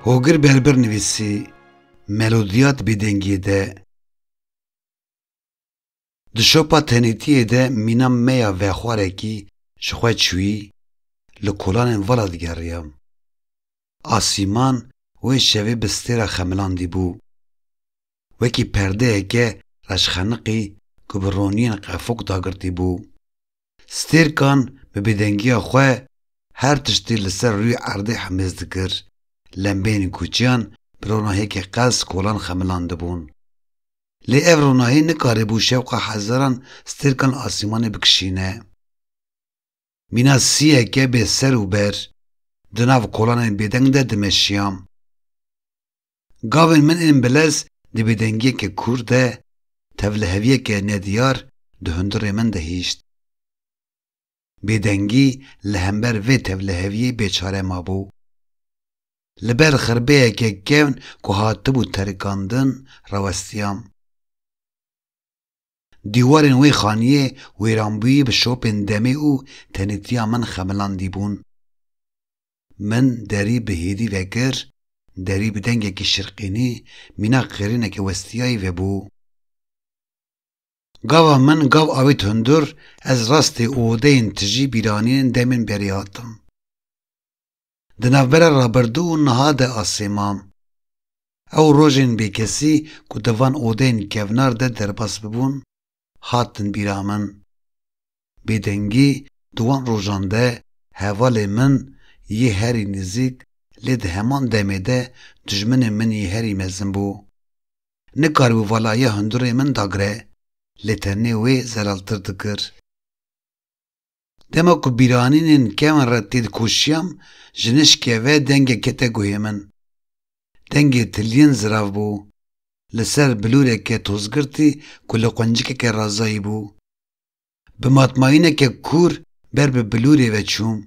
Hogir Berbir nivîsî, Melodiyat bêdengiyê de Di şopa tenêtiyê de mîna me ya vexwarekî ji xwe çûyî, li kolanên vala digeriyam. Asîman wê şevê bi stêra xemilandî bû. Wekî perdeyeke reşxeniqî ku bi roniyên qefok dagirtî bû. Stêrkan bi bêdengiya xwe her tiştî li ser rûyê erdê hemêz dikir, lembeyên koçiyan bi ronahiyekî qels kolan xemilandibûn. Lê ev ronahî nikaribû şewqa hezaran stêrkan asîmanê bikişîne. Mîna siyeke bê ser û ber di nav kolanên bêdeng de dimeşiya. Gavên min ên bilez di bêdengiyeke kûr de, tevliheviyeke nediyar di hundirê min de hişt. Bêdengî li hember vê tevliheviyê bêçare mabû. Li ber xirbeyeke kevn ku hatibû terikandin rawestiyam. Dîwarên wê xaniyê wêranbûyî bi şopên demê û tenêtiya min xemilandî bûn. Min derî bi hêdî vekir, derî bi dengekî şirqînî mîna qirîneke westiyayî vebû. Gava min gav avêt hundir, ez rastê û odeyên tijî bîranînên demên berî hatim. Di navbera rabirdû û niha de a sêman. Ew rojên bêkesî ku di van odeyên kevnar de derbas bibûn, hatin bîra min. Bêdengî di wan rojan de hevalê min yê herî nizîk lê di heman demê de dijminê min yê herî mezin bû. Nikaribû vala ya hundirê min dagre, lê tenê wê zelaltir dikir. Dema ku bîranînên kevin re tê dikoşiyam, ji nişkê ve dengek kete guhê min. Dengê tiliyên zirav bû. Li ser bilûreke tozgirtî ku li quncikeke razayî bû. Bi matmayîneke kûr ber bi bilûrê ve çûm.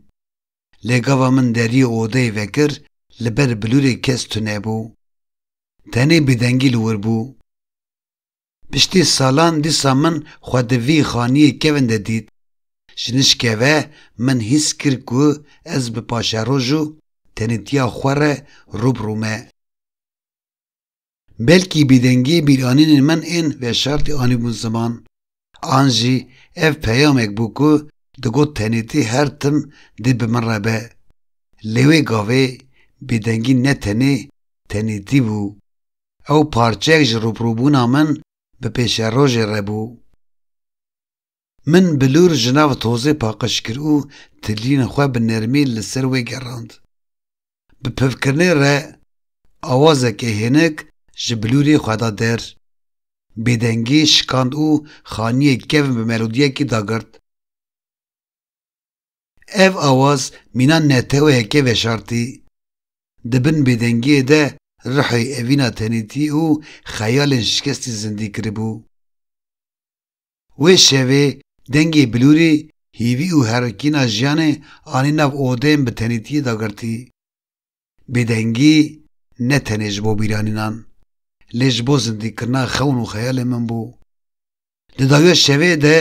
Lê gava min deriyê odeyê vekir li ber bilûrê kes tunebû. Tenê bêdengî li wir bû. Piştî salan dîsa min xwe di vî xaniyê kevin de dît. Ji nişkê ve min hîs kir ku ez bi paşeroj û tenêtiya xwe re rû bi rû me. Belkî bêdengiyê bîranînên min ên veşartî anîbûn ziman. An jî ev peyamek bû ku digot tenêtî her tim dê bi min re be. Lê wê gavê bêdengî ne tenê tenêtî bû. Ew parçeyek ji rûprûbûna min bi pêşerojê re bû. Min bilûr ji nav tozê paqij kir û tilîn xwe bi nermî li ser wê gerand. Bi pivkirinê re awazekê hênik ji bilûrê xwe da der. Bêdengî şikand û xaniyê kevn bi melodiyekî dagirt. Ev awaz mîna neteweyeke veşartî, di bin bêdengiyê de ruhê evîna tenêtî û xeyalên şikestî zindî kiribû. Wê şevê dengê bilûrî hîvî û herikîna jiyanê anî nav odeyên bi tenêtiyê dagirtî. Bêdengî ne tenê ji bo bîranînan lê ji bo zindîkirina xewn û xeyalên min bû. Di dawiya şevê de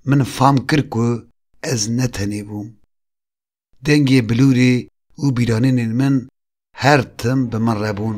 min fam kir ku ez ne tenê bûm. Dengê bilûrê û bîranînên min her tim bi min re bûn.